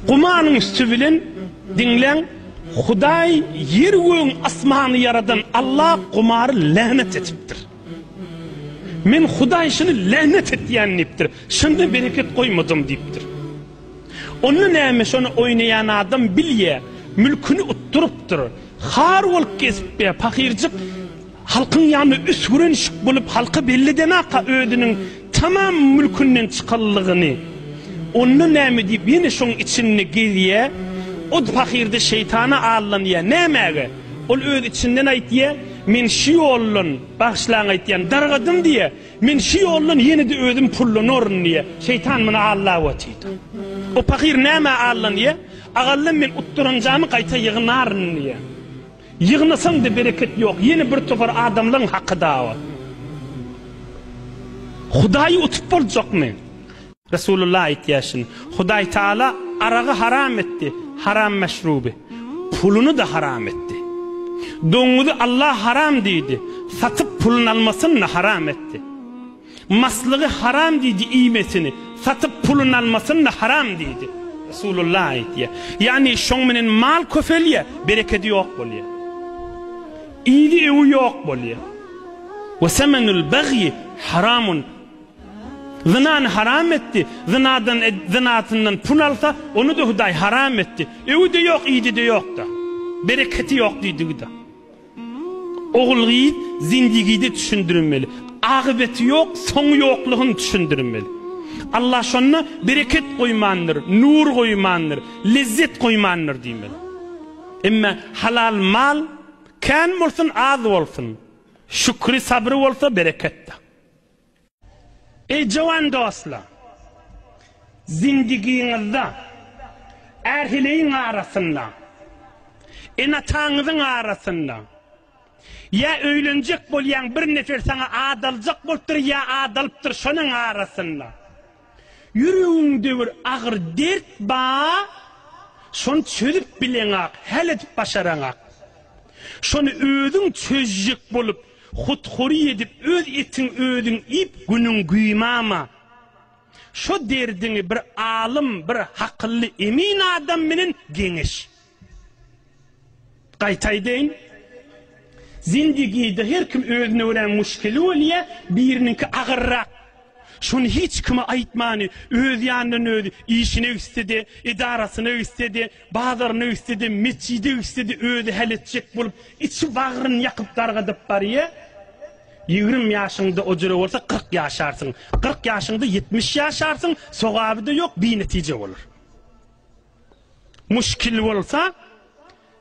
Gumanyň üsti bilen, diňläň, Hudaý ýer-gögüň asmany ýaradan Alla gumary länet etipdir. Men Hudaý şuny länet etýän diýipdir. Şunda bereket goýmadym diýipdir. Onda näme şony oýnaýan adam bilýä, mülküni utdurypdyr. Har bolup gezipdä, pahyrjyk Halkyň ýanyna üsgüren şyk bolup halka belledenaka özüniň tamam mülkünden çykanlygyny. Onda näme diýip ýene şoň içinde gezýä. O pahyrda şeýtana allanýa. Nämäge? Ol öz içinden aýtýa, Men şu ýoldan, bagyşlaň aýtýan, dargadym diýä. Men şu ýoldan ýene-de özüm pullanaryn diýä. Şeýtan muny allap otyr. O pahyr nämä allanýa? Agallym men utduranjamy gaýta ýygnaryn diýä. Ýygnasaň-da bereket ýok, ýene bir topar adamlaň haky dawat. Hudaýy utup boljakmy? Resulullah aýtýar şuny, Hudaý Taala aragy haram etdi, haram meşruby, puluny-da haram etdi. Doňňuzy Allah haram diýdi, satyp pulun almasyny-da haram etdi. Maslygy haram diýdi, iýmesini, satyp puluny almasyny-da haram diýdi. Resulullah aýtýar. Ýagny şoň menen mal köpelýär, berekedi ýok bolýar. Yzy öwi ýok bolýar. Ve semenul bagyi haramun. Zynany haram etdi. Zynadan zynasyndan pul alsa, ony da Hudaý haram etdi. Öwi-de ýok, yzy-de ýok-da. Bereketi ýok diýdigi-de. Ogul-gyz zindigide düşündirilmeli. Agybyeti ýok, soňy ýoklugyny düşündirilmeli. Allah şonda bereket goýmandyr, nur goýmandyr, lezzet goýmandyr diýmeli. Emma halal mal kän bolsun, az bolsun, şükri-sabry bolsa bereketde. Eý jowan dostlar! Zindigiňizde ärheleýiň arasynda, ene-ataňyzyň arasynda ýa öýlenjek bolýaň bir nefer saňa adaljak bolupdyr ýa adalypdyr şonuň arasynda ýüregiňde bir agyr dert ba şony çözüp bileňak häl edip başaraňak şony özüň çözjek bolup Hut hory edip öz etiň özüň iýip günüň güýmama. Şo derdiňi bir alym, bir hakylly emin adam menen geňeş. Gaýta aýdaýyn, zindigide her kim özüne görä muşkili bolýa, biriniňki agyrrak. Şuny hiç kime aýtmany, öz ýanyndan özi, işine gitse-de, edarasyna gitse-de, bazaryna gitse-de, metjide gitse-de özi häl etjek bolup, içi bagryny ýakyp dargadyp barýar. Ýigrimi ýaşyňda ojere bolsa, kyrk ýaşarsyň. Kyrk ýaşyňda ýetmiş ýaşarsyň, sogaby-da ýok, binetije bolar. Muşkil bolsa,